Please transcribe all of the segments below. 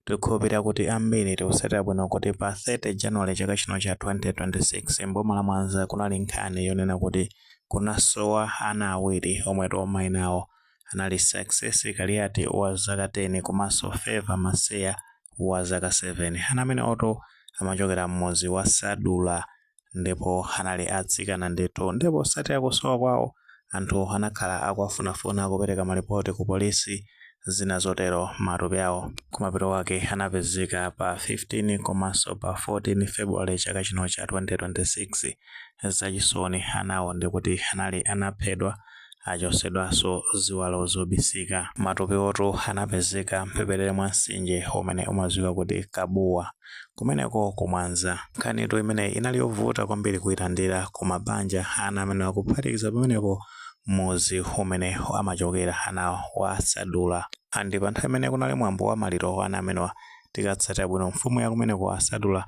Tikukhulupirira kuti ambiri tikutsatira bwino kuti pa 30 January chaka chino cha 2026 m'boma la Mwanza kunali nkhani yonena kuti kunasowa ana awiri omwetu maina awo anali Success Kaliati wa zaka 10 komanso Favour Maseya wa zaka 7. Ana amenewotu amachokera m'mudzi wa Sadula ndipo anali atsikana ndithu ndipo satira kusowa kwawo anthu anakhala akuwafunafuna kupereka malipoti ku polisi zina zotero matupi awo kumapeto wake anapezeka pa 15 komanso pa 14 February chaka chino cha 2026 zachisoni anawo ndikuti anali anaphedwa achotsedwanso ziwalo zobisika. Matupiwotu anapezeka m'mphepete mwa mtsinje umene umadziwika kuti Kabuwa, kumeneko ku Mwanza. Nkhanitu imeneyi inali yovuta kwambiri kuilandira ku mabanja a ana amenewa kuphatikiza pamenepo mudzi umene amachokera anawa wa Sadula. And pa nthawi imene kunali mwambo wa maliro wa ana amenewa. Tikatsatira bwino, mfumu ya kumeneko a Sadula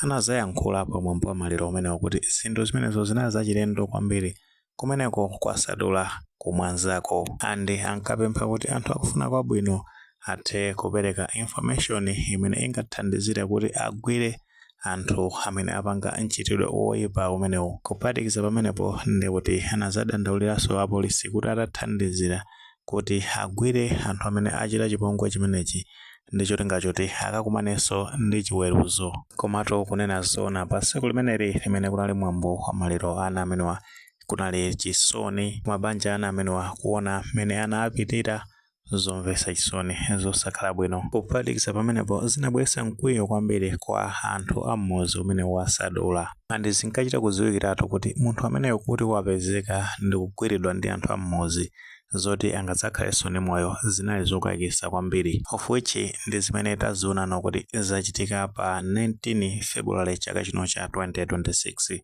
anadzayankhula pa mwambo wa maliro umenewo kuti zinthu zimenezo zinali zachilendo kwambiri Kumeneko kwa Sadula ku Mwanzako and ankapempha kuti anthu akufuna kwabwino athe kupereka information imene ingathandizire kuti agwire anthu amene apanga mchitidwe woipa umenewu. Kuphatikiza pamenepo ndekuti anazadandauliranso apolisi kuti atathandizira kuti agwire anthu amene achita chipongwe chimenechi ndi cholinga choti akakumanenso ndi chiweruzo. Komatu kunena zoona, pa tsiku limeneli limene kunali mwambo wa maliro a ana amenewa, kunali chisoni m'mabanja a ana amenewa kuona mmene ana apitira zomvetsa chisoni zosakhala bwino. Kuphatikiza pamenepo, zinabweretsa mkwiyo kwambiri kwa anthu a m'mudzi umenewu wa Sadula. And zinkachita kudziwikiratu kuti munthu ameneyo kuti wapezeka ndi kugwiridwa ndi anthu a m'mudzi, zoti angadzakhalenso ndi moyo zinali zokayikitsa kwambiri, of which ndi zimene tazionano kuti zachitika pa 19 February chaka chino cha 2026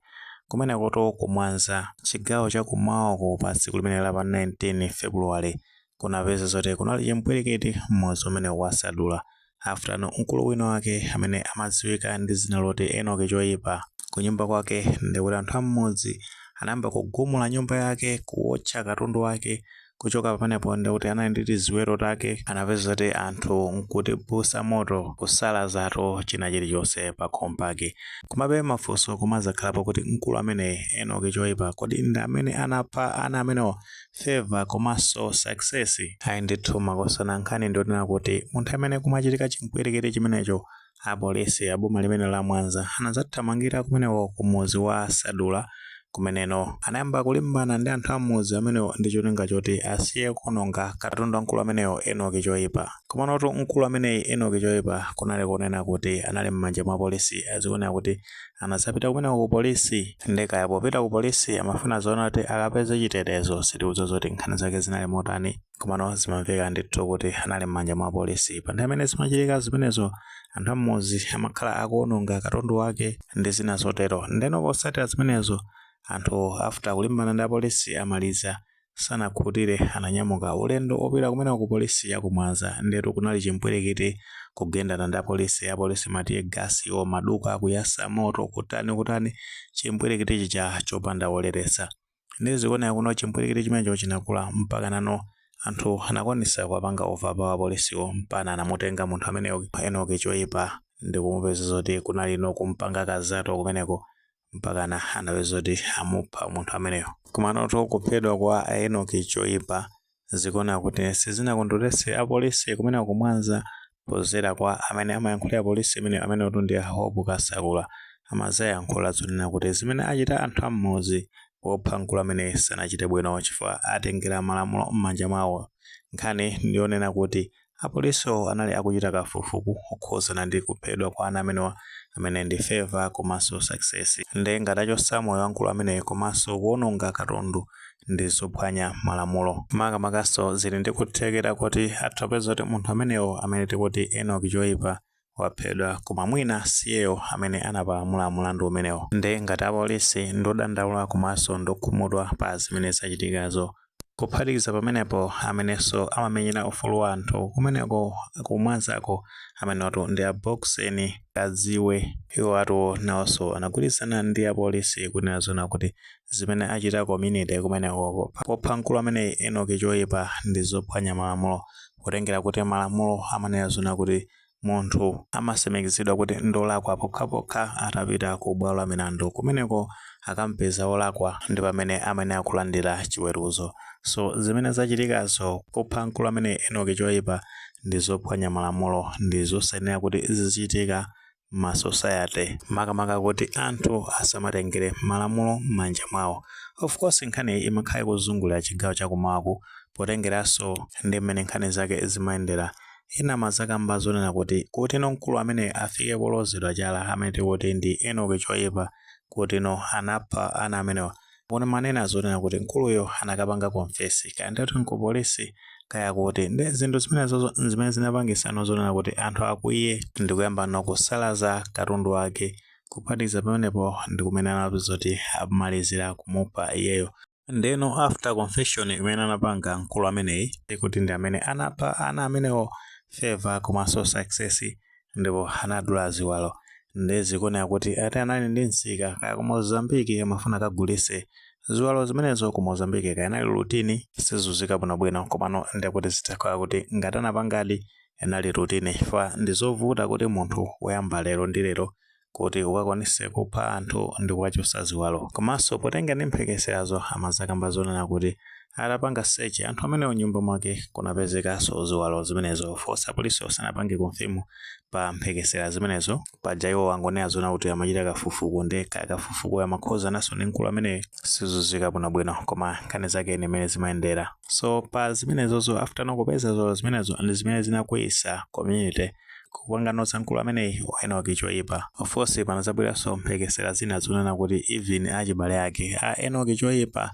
kumenekotu ku Mwanza chigawo cha kum'mawako pa tsiku limeneli la pa 19 February kunapeza zoti kunali chimpwirikiti m'mudzi umenewu wa Sadula After, mkulu wina wake amene amadziwika ndi dzina loti Enock Choipa, kunyumba kwake ndikuti anthu a m'mudzi anayamba kugumula nyumba yake, kuotcha katundu wake, kuchoka pamenepo ndikuti anali ndi tiziweto take, anapeza zoti anthu nkutibusa moto, kusalaziratu china chilichonse pakhomo pake. Komabe mafunso kumadzakhalapo kuti mkulu ameneyi, Enock Choipa, kodi ndi amene anapha ana amenewa favour komanso success. Ayi ndithu makosana nkhani ndionena kuti nthawi imene kumachitika chimpwirikiti chimenecho apolisi aboma limene la mwanza anazathamangira kumeneko kumudzi wa sadula kumeneno anayamba kulimbana ndi anthu a m'mudzi amenewo ndi cholinga choti asiye kuononga katundu wa mkulu ameneyo enoki choipa komanotu mkulu ameneyi enoki choipa kunali konena kuti anali mmanja mwa apolisi zikuoneka kuti anadzapita kumeneko ku polisi nde kaya popita ku polisi amafuna zoona kuti akapeze chitetezo sitikudziwa zoti nkhani zake zinali motani komano zimamveka ndithu kuti anali m'manja mwa apolisi pa nthawi imene zimachitika zimenezo anthu am'mudzi amakhala akuononga katundu wake ndi zina zotero ndeno potsatira zimenezo anthu after kulimbana ndi apolisi amaliza sanakhutire ananyamuka ulendo opita kumeneko ku polisi yaku mwanza ndetu kunali chimpwirikiti kugendana ndi apolisi apolisi ma tear gas wo maduka kuyasa moto kutani kutani chimpwirikiti chija chopanda woletsa nde zikuoneka kuti no chimpwirikiti chimenecho chinakula mpaka nano anthu anakwanisa kuwapanga overpower apolisiwo mpaka anamutenga munthu ameneyo enoki choipa ndikumupeza zoti kunali no kumpanga kazato kumeneko mpakana anapeza kuti amupha munthu ameneyo komanotu kuphedwa kwa a enoki choipa zikuoneka kuti sizinakondweretse apolisi kumeneko ku mwanza podzera kwa amene amayankhulira polisi imeneyo amenewotu ndi a hope kasakula amadzayankhula zonena kuti zimene achita anthu am'mudzi popha mkulu ameneyu sanachite bwino chifukwa atengera malamulo m'manja mwawo nkhani ndiyonena kuti Apolisiwo anali akuchita kafukufuku okhudzana ndi kuphedwa kwa ana amenewa amene ndi Favour komanso Success. Nde ngati achotsa moyo wa mkulu ameneyu komanso kuononga katundu ndi zophwanya malamulo. Makamakanso zili ndi kuthekera koti atha kupeza zoti munthu ameneyo amene tikuti Enock Choipa waphedwa koma mwina siyeyo amene anapalamula mulandu umenewo nde ngati apolisi ndodandaula komanso ndokhumudwa pa zimene zachitikazo kuphatikiza pamenepo amenenso amamenyera ufulu wa anthu kumeneko ku mwanzako amenewatu ndi a boxen kadziwe iwowatu nawoso anagwirizana ndi apolisi kunena zoona kuti zimene achita community kumeneko popha mkulu ameneyi Enock choipa ndi zophwanya malamulo potengera kuti malamulo amanena zoona kuti munthu amatsimikizidwa kuti ndolakwa pokhapokha atapita ku bwalo la milandu kumeneko akampeza wolakwa ndi pamene amayenera kulandira chiweruzo so zimene zachitikazo popha mkulu ameneyi Enock choipa ndi zophwanya malamulo ndi zosayenera kuti zizichitika ma society makamaka kuti anthu asamatengere malamulo m'manja mwawo of course nkhani iyi imakhala ikuzungulira chigawo chakumawaku potengeranso ndi mmene nkhani zake zimayendera ena amadzakamba zonena kuti kuti no mkulu amene afike polozedwa chala amene tikuti ndi enoki choyipa kuti no anapha ana amenewa Mboni imanena zonena kuti mkuluyo anakapanga confess, kaya ndi kuti n'kupolisi kaya kuti. Ndiye zinthu zimenezo n'zimene zinapangitsano zonena kuti anthu akwiye ndi kuyambano kusalaza katundu wake. Kuphatikiza pamenepo ndi kumene anapeza zoti amalizira kumupha iyeyo. Ndiyeno after confession imene anapanga mkulu ameneyi, kuti ndi amene anapha ana amenewo, Favour komanso Success. ndipo anadula ziwalo nde zikuoneka kuti ati anali ndi msika kaya ku Mozambique amafuna akagulise ziwalo zimenezo ku Mozambique kaya inali routine sizuzika bwinobwino komano ndekuti zitakhala kuti ngati anapangadi inali routine chifukwa ndi zovuta kuti munthu woyamba lero ndi lero kuti ukakwanise kupha anthu ndi kuwachosa ziwalo komanso potengera ndi mphekeserazo amazakamba zonena kuti atapanga search anthu amenewo nyumba mwake kunapezekanso ziwalo zimenezo of course apolisiwo sanapange confirm pa mphekesera zimenezo paja iwo angonena zonena kuti amachita kafufuku nde kaya kafufuku amakhuzananso ndi mkulu ameneyo sizuzika bwinobwino koma nkhani zake ni mmene zimayendera so pa zimenezozo after ano kupeza ziwalo zimenezo ndi zimene zinakwiyisa community Kupangano za mkulu ameneyi Enock Chiwaipa. Of course panazabweranso mphekesera zina zonena kuti even achibale ake a Enock Chiwaipa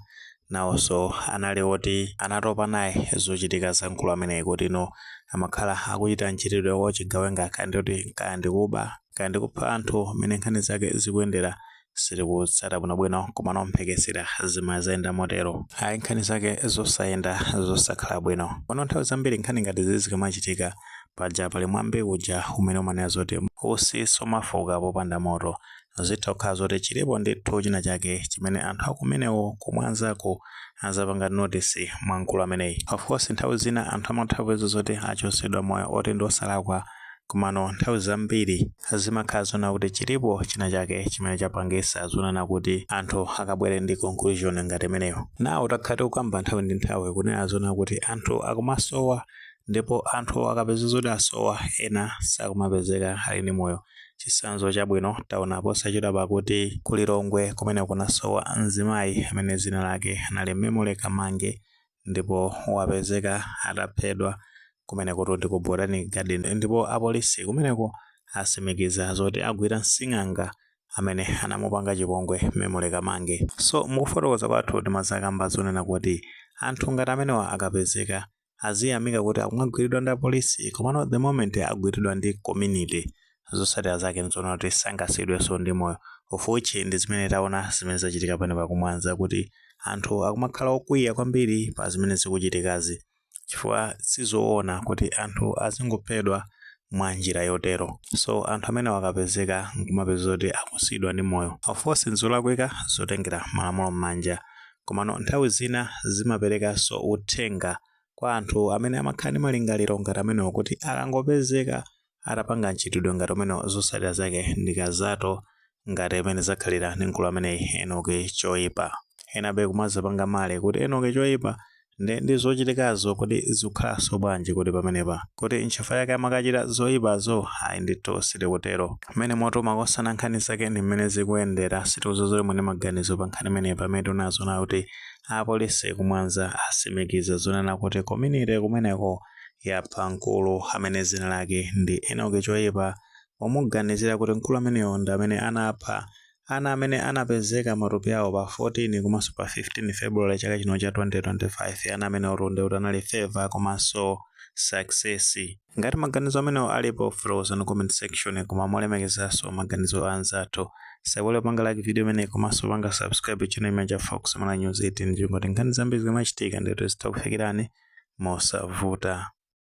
nawonso anali oti anatopa naye zochitika za mkulu ameneyi kuti no amakhala akuchita mchitidwe wa uchigawenga kaya ndikuti kaya ndikuba kaya ndikupha anthu mmene nkhani zake zikuyendera sitikutsata bwinobwino komano mphekesera zimazayenda motero ayi nkhani zake zosayenda zosakhala bwino pano nthawi zambiri nkhani ngati zizi zikamachitika paja pali mwambi uja umene umanena zoti utsi sumafuka popanda moto zitha kukhala zoti chilipo ndithu china chake chimene anthu akumeneko kumwanzako azapanga notice mwa mkulu ameneyi of course nthawi zina anthu amatha kupeza zoti achosedwa moyo oti ndi osalakwa komano nthawi zambiri zimakhala zonena kuti chilipo china chake chimene chapangisa zonena kuti anthu akabwere ndi conclusion ngati imeneyo now takhala tikukamba nthawi ndi nthawi kunena zonena kuti anthu akumasowa ndipo anthu akapeza zoti asowa ena sakumapezeka ali ndi moyo chisanzo chabwino taona posachedwapa kuti ku Lilongwe kumene kunasowa mzimayi amene zina lake anali Memory Kamange ndipo wapezeka ataphedwa kumene kuti ndi ku Botanic Garden ndipo apolisi kumeneko asimikiza zoti agwira nsing'anga amene anamupanga chipongwe Memory Kamange. So mukufotokoza kwathu timazakamba zonena kuti anthu ngati amenewa akapezeka aziyamika kuti akumagwiridwa ndi apolisi komano the moment agwiridwa ndi community zotsatira zake nzoona kuti sangasiyidwenso ndi moyo of which ndi zimene taona zimene zachitika pano pakumwanza kuti anthu akumakhala okwiya kwambiri pa zimene zikuchitikazi chifukwa sizoona kuti anthu azingophedwa mwa njira yotero so anthu amene akapezeka nkumapeza kuti sakusiyidwa ndi moyo of course nzolakwika zotengera malamulo m'manja komano nthawi zina zimaperekanso uthenga kwa anthu amene amakhala ndi malingaliro ngati amenewo kuti akangopezeka atapanga mchitidwe ngati umenewo zotsatira zake ndi kazato ngati mmene zakhalira ndi mkulu ameneyi Enoki Choipa. Enabe kumazapanga malemu kuti Enoki Choipa nde ndi zochitikazo kodi zikukhalanso bwanji kodi pamenepa? Kuti nchifukwa chake amakachita zoipazo? Ayi ndithu sitikutero. Umenewo ndi moto makosana nkhani zake ndi mmene zikuyendera sitikudziwa zoti muli ndi maganizo pa nkhani imeneyi pamene tikunenazo nayo kuti apolisi ku Mwanza atsimikiza zonena kuti community kumeneko yapha mkulu amene dzina lake ndi Enoki Choipa pomuganizira kuti mkulu ameneyo ndi amene anapha ana amene anapezeka matupi awo pa 14 komanso pa 15 February chaka chino cha 2025. Ana amene otonde kuti anali Favour komanso Success. Ngati maganizo amenewo alipo, fotokozani mu comment section. Koma molemekezanso maganizo a anzathu. osaiwala kupanga like video imeneyi komanso panga subscribe channel chimenechi cha Fox Mala News 18 ndi cholinga choti nkhani zambiri zikamachitika ndithu zizitha kufikirani mosavuta